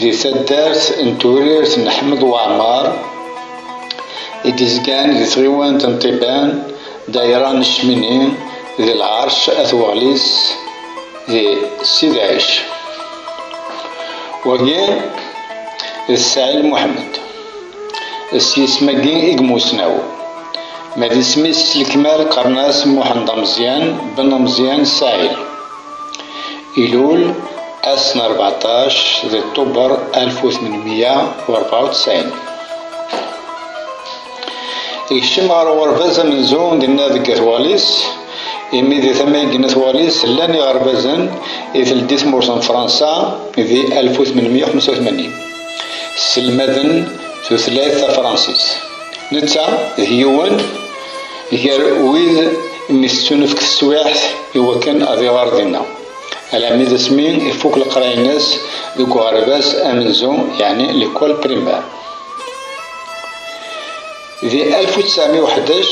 Di taddart n Turirt n Ḥmed Waɛmer i d-izgan di tɣiwant n Ṭiban, dayra n Cmini, d Lɛerc At Weɣlis d Ssid Ɛic. Wagi d Ssaɛil Muḥmed. S yisem-agi i yemmusnaw. Ma d isem-is s lekmal qqaren-as Muḥend Ameẓyan ben Ameẓyan Ssaɛil. Ilul, ass n rbeɛṭac di Ṭubber alef u tmenmiya u rebɛa u ttɛin. Ikcem ɣer uɣerbaz amenzu dinna deg At Walis, imi di tama i gen At Walis llan iɣerbazen i teldi tmurt n Fransa di alef u tmenmiya u ḥemsa u tmanyin, sselmaden tutlayt tafransist. Netta d yiwen gar wid. Imi tettunefk teswiɛt i wakken ad iɣer dinna, alami d asmi ifuk leqraya-ines deg uɣerbaz amenzu, yeɛni l'école primaire. Di alef u ttɛemya u ḥdac,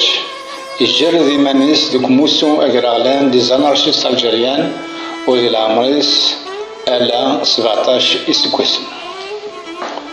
ijerred iman-is deg umussu agraɣlan des anarchistes algériens u di leɛmer-is ala sbeɛṭac iseggasen.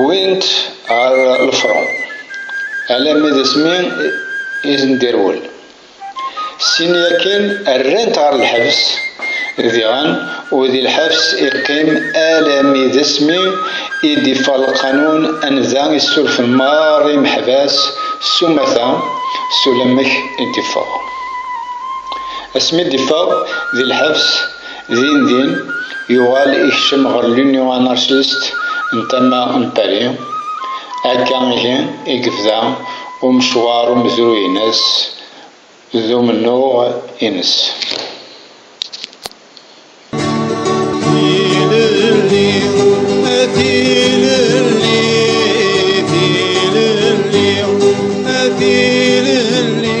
Wwin-t ɣer lefṛun, alammi d asmi i ten-d-irwel. Sin yakan rran-t ɣer lḥebs, diɣen u di lḥebs i qqim alammi d asmi i d-iffeɣ lqanun anda i ssurfen meṛṛa imeḥbas s umata, s ulamek i d-iffeɣ. Asmi d-iffeɣ di lḥebs, Din din, yuɣal ikcem ɣer l'Union anarchiste n tama n Paris. Akka ihi i yebda umecwar umezruy-ines d umennuɣ-ines. Tilelli, a tilelli, tilelli, a tilelli.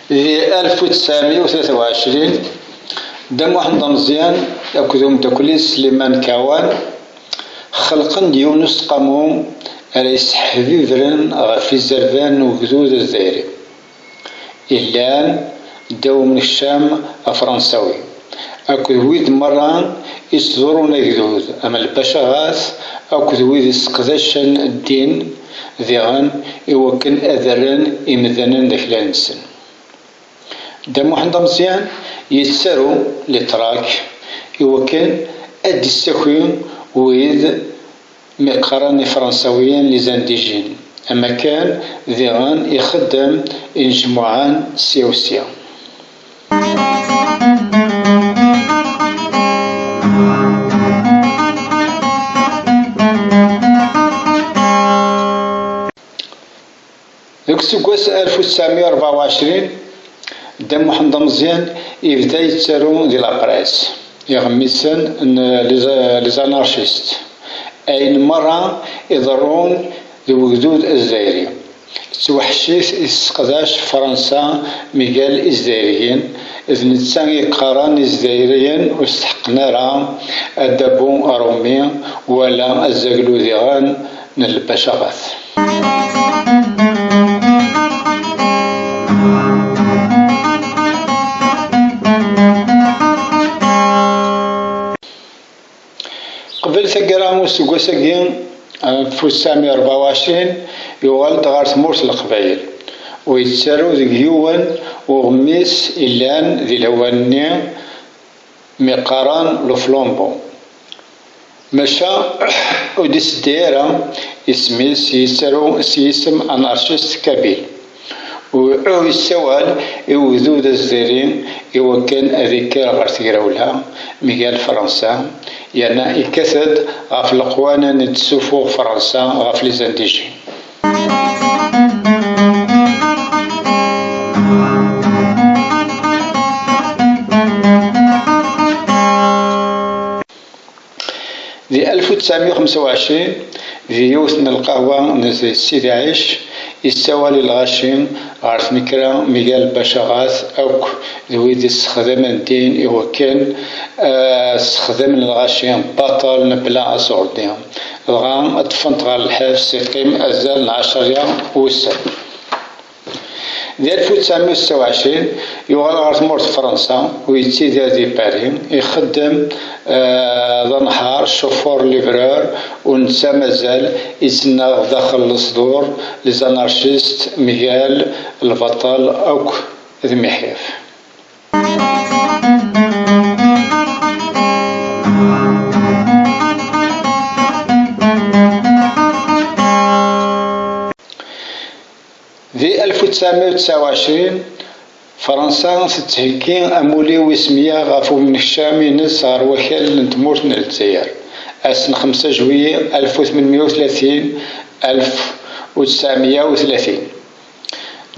Di 1923, Dda Muḥend Ameẓyan akked umeddakel-is Sliman Kawan xelqen-d yiwen n useqqamu ara yesseḥbibren ɣef izerban n ugdud azzayri yellan ddaw umnekcam afransawi akked wid merra yettḍurrun agdud am lbacaɣat akked wid yesseqdacen ddin diɣen i wakken ad rren imdanen d aklan-nsen. Dda Muḥend Ameẓyan yettaru litrak i wakken ad d-issaki wid mi qqaren Ifransawiyen les indigènes, am akken diɣen ixeddem inejmuɛen sya u sya. Deg useggas 1924, Dda Muḥend Ameẓyan yebda yettaru di lapres, iɣmisen n les anarchistes, ayen merra iḍerrun d wegdud azzayri, d tweḥcit i tesseqdac Fransa migal izzayriyen, d netta i yeqqaren izzayriyen ur steḥqen ara adabu arumi wala azzaglu diɣen n lbacaɣat. Qbel taggara n useggas-agi, ɣef usami rebɛa u ɛecrin, yuɣal-d ɣer tmurt n Leqbayel, u yettaru deg yiwen uɣmis yellan di lawan-nni mi qqaren Luflumbu, maca ur d-iseddi ara isem-is, yettaru s yisem anarcist kabil. Uhu yessawal i ugdud azzayri iwakken ad ikker ɣer tegrawla mgal Fransa yerna yekkat-d ɣef leqwana n d-tessufuɣ Fransa ɣef Lizandijin. Di alef u ttɛemya u xemsa u ɛecrin, di yiwet n lqahwa n Sidi Ɛic, yessawal i lɣaci ɣer tnekra Miguel Bacharat akk d wid i ssexdamen ddin i wakken ad ssexdamen lɣaci baṭel mebla aṣurdi, dɣa ṭṭfen-t ɣer lḥebs yeqqim azal n ɛecṛa wussan. Di alef u tesεemya u setta u εecrin, yuɣal ɣer tmurt Fransa u yettidir di Pari, ixeddem d anehhar, chauffeur livreur, u netta mazal ittennaɣ daxel lesdur, les anarchistes, mgal lbaṭel akk d miḥyaf. Di alef u ttɛemya u ttɛa u ɛecrin, Fransa tettheggi amulli wis mya ɣef umnekcam-ines ɣer wakal n tmurt n Lezzayer, ass n xemsa juillet alef u tmenmiya u tlatin, alef u ttɛemya u tlatin.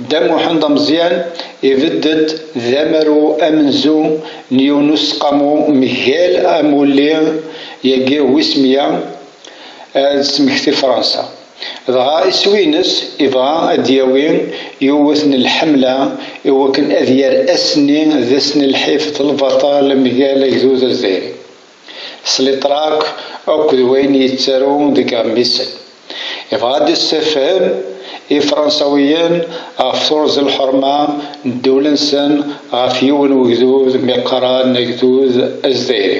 Dda Muḥend Ameẓyan ibedd-d d amaru amenzu n yiwen n useqqamu mgal amulli-agi wis mya, ad d-tesmekti Fransa. Dɣa iswi-ines ibɣa ad d-yawi yiwet n lḥemla i wakken ad yerr ass-nni d ass n lḥif d lbaṭel mgal agdud lezzairi, s litrak akk d wayen yettaru deg iɣmisen. Ibɣa ad d-issefhem Ifransawiyen ɣef turẓi lḥerma n ddewla-nsen ɣef yiwen wegdud mi qqaren agdud azdairi.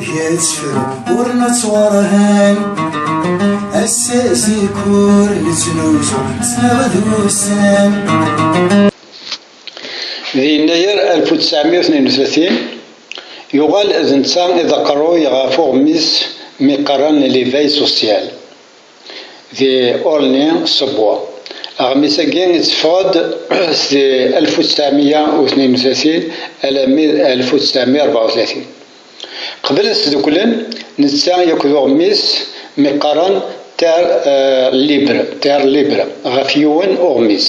Di yennayer alef u tesεemya u tnin u tlatin, yuɣal d netta i d aqerruy ɣef uɣmis mi qqaren L'éveil social di Aulnay-sous-Bois. Aɣmis-agi itteffeɣ-d seg alef u tesεemya u tnin u tlatin alammi d alef u tesεemya u rebεa u tlatin. Qeblen sduklen, netta yakk d uɣmis mi qqaren Terre Libre, Terre Libre, ɣef yiwen uɣmis.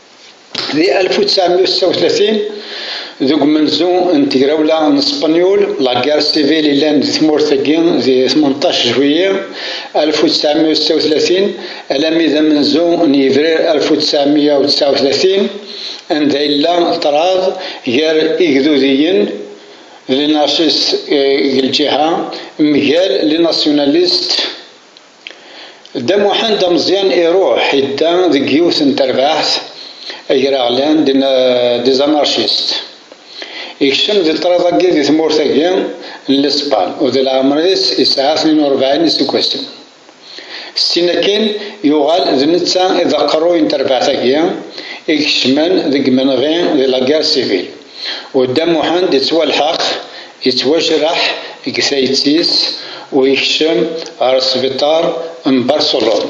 Di alef u tesεemya u setta u tlatin, deg umenzu n tegrawla n Spenyul, la guerre civile yellan deg tmurt-agi di tmenṭac juillet alef u tesεemya u setta u tlatin alami d amenzu n yebrir alef u tesεemya u tesεa u tlatin, anda yella ṭṭrad gar igdudiyen, les anarchistes deg lǧiha, mgal les nationalistes. Dda Muḥend Ameẓyan iruḥ idda deg yiwet n terbaɛt agraɣlan des anarchistes. Ikcem di ṭṭrad-agi di tmurt-agi n Lespan u di leɛmer-is yesɛa tnin u rebɛin iseggasen. Syin akkin yuɣal d netta i d aqerruy n terbaɛt-agi ikecmen deg yimenɣi di laguerre civile. U Dda Muḥend yettwalḥeq, yettwajreḥ deg tayet-is u yekcem ɣer sbiṭar n Barcelone.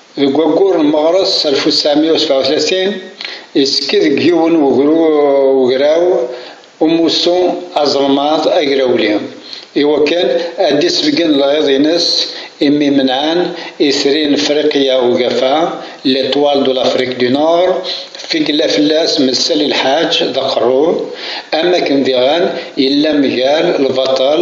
Deg waggur n meɣres alef u tesεemya u sebεa u tlatin, yettekki deg yiwen n wegraw umussu azelmaḍ agrawli i wakken ad d-isbeggen lɣiḍ-ines imi imenɛen Itri n Friqya Ugafa, L'Etoile de l'Afrique du Nord, fi yella fell-as Messali Lḥaǧ d aqerru, am wakken diɣen yella mgal lbaṭel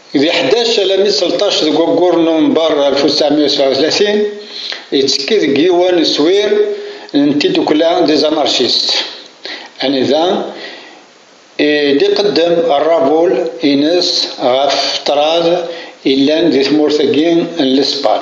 Di ḥdac alami tleṭṭac deg waggur n Nuvember alef u ttɛemya u sebɛa u tlatin, yettekki deg yiwen n uswir n tiddukla des anarchistes, anida i d-iqeddem rrabul ines ɣef ṭṭrad yellan di tmurt-agi n Lespan.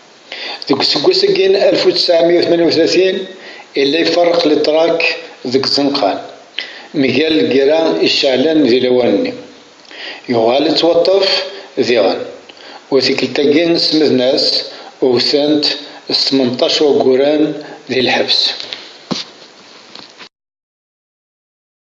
Deg useggas agi n alef u tesεemya u tmanya u tlatin yella iferreq litrak deg Zenqan, mgal lgerra iceɛlen di lawan-nni. Yuɣal yettwaṭṭef diɣen, u tikkelt-agi semmden-as, wwten-t s tmenṭac wagguren di lḥebs.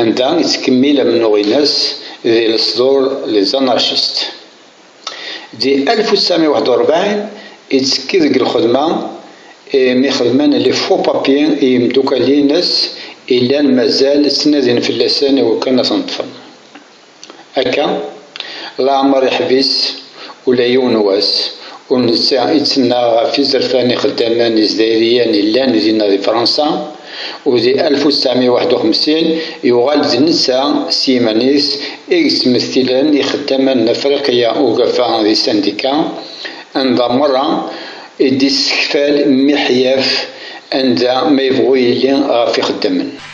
anda yettkemmil amennuɣ-ines di lesdur Les Anarchistes. Di alef u tesεemya u waḥed u rebεin ittekki deg lxedma imi xedmen les faux papiers i yimeddukkal-ines i llan mazal ttnadin fell-asen i wakken ad ten-ṭṭfen. Akka, leɛmer iḥbis ula yiwen wass, ur netta i tt-nnaɣ ɣef izerfan ixeddamen izdairiyen yellan dinna di Fransa, u di alef u ttɛemya u waḥed u xemsin yuɣal-d d netta s yiman-is i yettmettilen ixeddamen n Afriqiya Ugafa di Sandika, anda merra i d-yessekfal miḥyaf anda ma yebɣu yili ɣef ixeddamen.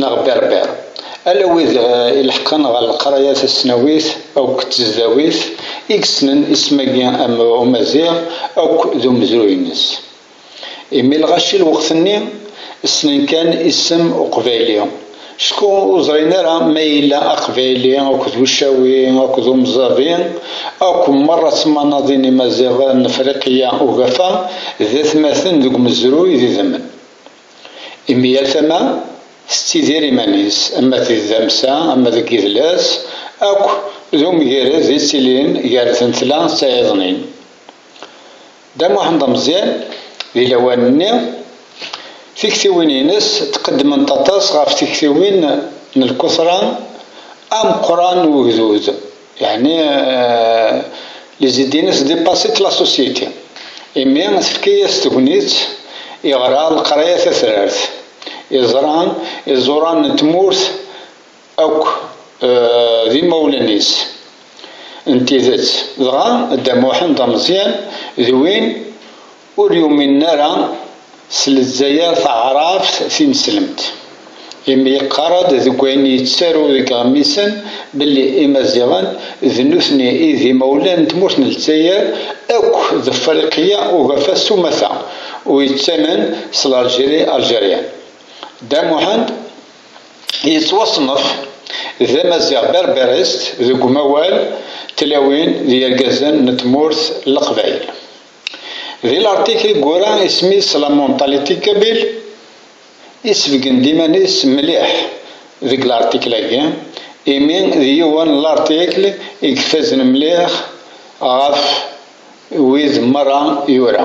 neɣ berber, ala wid ileḥqen ɣer leqraya tasnawit akked tezdawit i yessnen isem-agi am umaziɣ akk d umezruy-nnes. Imi lɣaci lweqt-nni ssnen kan isem uqbayli, cku ur ẓrin ara ma yella aqbayli akked ucawi akked umẓavi akk merra ttmanaḍin imaziɣ n Friqya ugafa d atmaten deg umezruy d idammen. Imi yal tama tettidir iman-is, ama d tdamsa, ama deg yidles, akk d umgired i ttilin gar tentla d tayeḍnin. Dda Muḥend Ameẓyan, di lawan-nni, tiktiwin-ines ttqeddment aṭas ɣef tektiwin n lkutra ameqqran n ugdud. Yeɛni les idées-nnes dépassent la société, imi tefka-as tegnit iɣra leqraya tatrart, iẓra iẓuran n tmurt akk d imawlan-is n tidet, dɣa Dda Muḥend Ameẓyan d win Ur yuminen ara s Lezzayer taɛrabt tineslemt, imi yeqqar-d deg wayen yettaru deg yiɣmisen belli Imaziɣen d nutni i d imawlan n tmurt n Lezzayer akk d Friqya ugafa s umata, u yettamen s Larjiri, Algerian. Dda Muḥend yettwaṣnef d Amaziɣ Berberist deg umawal, tlawin d yergazen n tmurt n Leqbayel. Di laṛtik i yura isem-is La Mentalité Kabyle, isebgen-d iman-is mliḥ deg laṛtikl-agi, imi d yiwen n laṛtikl i ifazen mliḥ ɣef wid meṛṛa yura.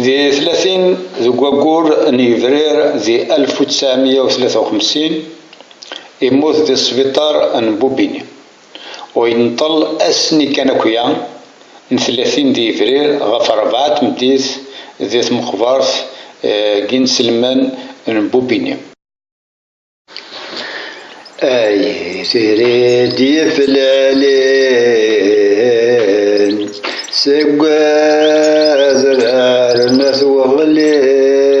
Di tlatin deg waggur n yebrir di 1953, immut di sbiṭar n Bubini. U yenṭel ass-nni kan akya n tlatin di yebrir ɣef rebɛa tmeddit di tmeqbert n yinselmen n Bubini. Ay trid yeflalen seg adrar n At Weɣlis.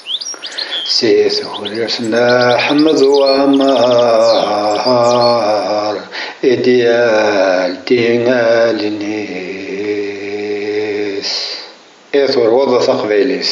Si tewrirt n Ḥmed Wamar i d-yaldi allen-is, i turew taqbaylit.